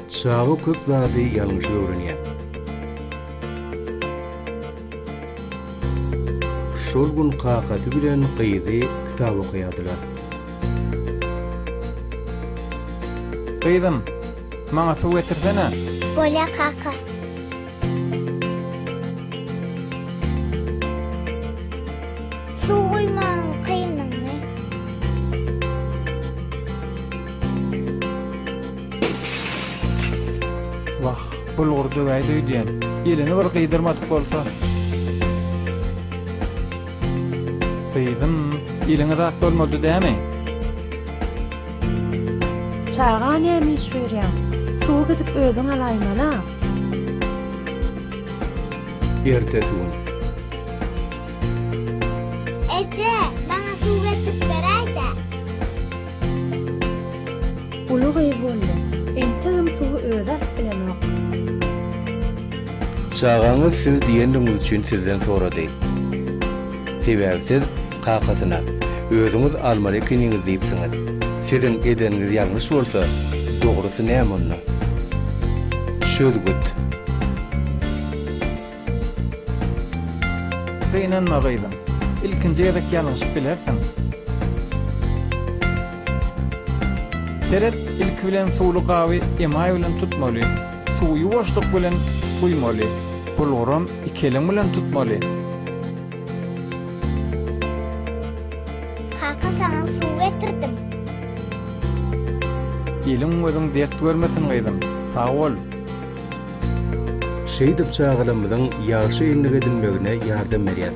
Çaga köp zady ýalňyş öwrenýär. Şol gün kakasy bilen gyzy kitap okaýardylar. Gyzym, maňa suw getirsene. Bolýar kaka. bulgur döwäýdi öýdýän. Ýelini bir gyýdyrmadyk bolsa. Gyýdym, ýeliňe zat bolmady dämi? Çaga näme iş görýäň? Suw gidip özüň alaýmala. Ertesi gün. Eje, maňa suw getirip beräý-dä. Uly gyz boldy. Entegem suwy özi alyp bilenok. Çagaňyz siz diýendigiňiz üçin sizden sorady. Sebäbi siz. Kakasyna, Özüňiz almaly ekeniňiz diýipsiňiz. Siziň edeniňiz ýalňyş bolsa, dogrusy näme onda? Çözgüt. Gynanma gyzym. Ilkinji gezek ýalňyşyp bilersiň. Seret, ilki bilen suwly gaby emaý bilen tutmaly. Suwy ýuwaşlyk bilen guýmaly. Bulguram iki eliň bilen tutmaly. Kaka saňa suw getirdim. Eliň gözüň dert görmesin gyzym. Sag bol. Şeýdip çagalarymyzyň ýagşy endik edinmegine ýardam berýär.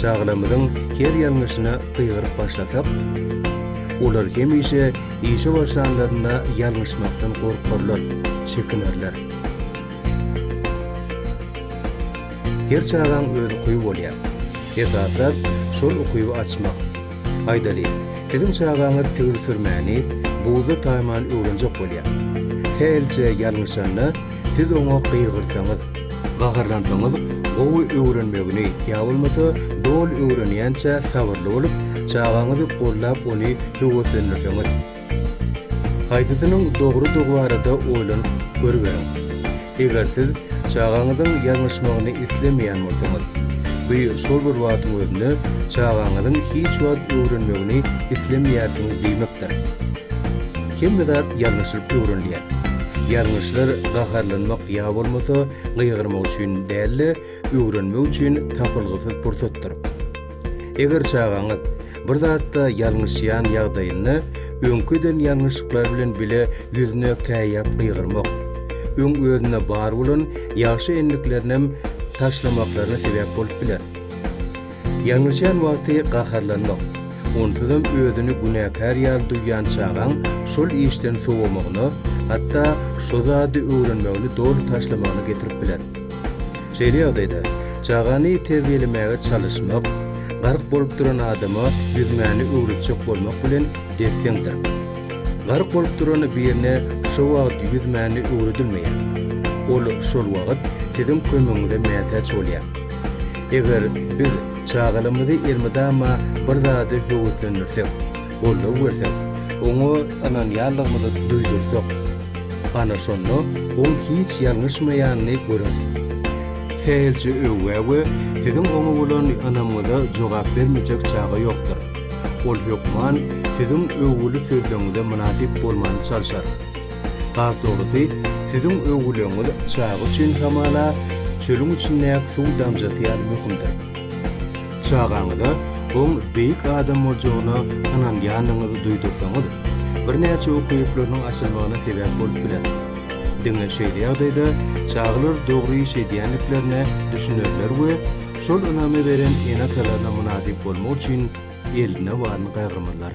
Çagalarymyzyň her ýalňyşyna gygyryp başlasak, olar hemişe işe başlanlarynda ýalňyşmakdan gorkarlar, çekinerler. Her çagaň öz ukyby bolýar. Esaslap, şol ukyby açmak. Aýdaly, siziň çagaňyz tigir sürmäni buzda taýman öwrenjek bolýar. Hälçe ýalňyşanda, siz oňa gygyrsaňyz, gaharlansaňyz, gowy öwrenmegini ýa bolmasa doly öwrenýänçä sabyrly bolup, çagaňyzy goldap ony höweslendirseňiz, Haýsysynyň dogrudygy barada oýlanyp görüberiň. Eger siz çagaňyzyň ýalňyşmagyny islemeýän bolsaňyz, bu şol bir wagtyň özünde çagaňyzyň hiç wagt öwrenmegini islemeýärsiňiz diýmekdir. Hemme zat ýalňyşylyp öwrenilýär. Ýalňyşlar gaharlanmak ýa bolmasa gygyrmak üçin däl-de, öwrenmek üçin tapylgysyz pursatdyr. Eger çagaňyz bir zatda ýalňyşýan ýagdaýynda, öňki eden ýalňyşlyklary bilen bile ýüzüne käýýäp gygyrmak, öň özünde bar bolan ýagşy endiklerinem taşlamaklaryna sebäp bolup biler. Ýalňyşýan wagty gaharlanmak, onsuzam özüni günäkär ýaly duýýan çagaň şol işden sowamagyna, hatda şo zady öwrenmegini doly taşlamagyna getirip biler. Şeýle ýagdaýda, çagany terbiýelemäge çalyşmak, gark bolup duran adama ýüzmäni öwretjek bolmak bilen des-deňdir. Gark bolup duran birine şo wagt ýüzmäni öwredilmeýär. Ol şol wagt siziň kömegiňize mätäç bolýar. Eger biz çagalarymyzy elmydama bir zady höweslendirsek, goldaw bersek, oňa ynanýanlygymyzy duýdursak, ana şonda oň hiç ýalňyşmaýanyny göreris. Sähelçe öwgä-öwgä siziň oňa bolan ynamyňyza jogap bermejek çaga ýokdur. Ol hökman siziň öwgüli sözleriňize mynasyp bolmany çalşar. Has dogrusy, siziň öwgüleriňiz çaga üçin hamala çölüň içindäki suw damjasy ýaly möhümdir. Çagaňyza oň beýik adam boljagyna ynanýanyňyzy duýdursaňyz, birnäçe uky ýüpleriniň açylmagyna sebäp bolup biler. Diňe şeýle ýagdaýda çagalar dogry iş edýändiklerine düşünerler we şol ynamy beren ene-atalaryna mynasyp bolmak üçin eline baryny gaýgyrmazlar.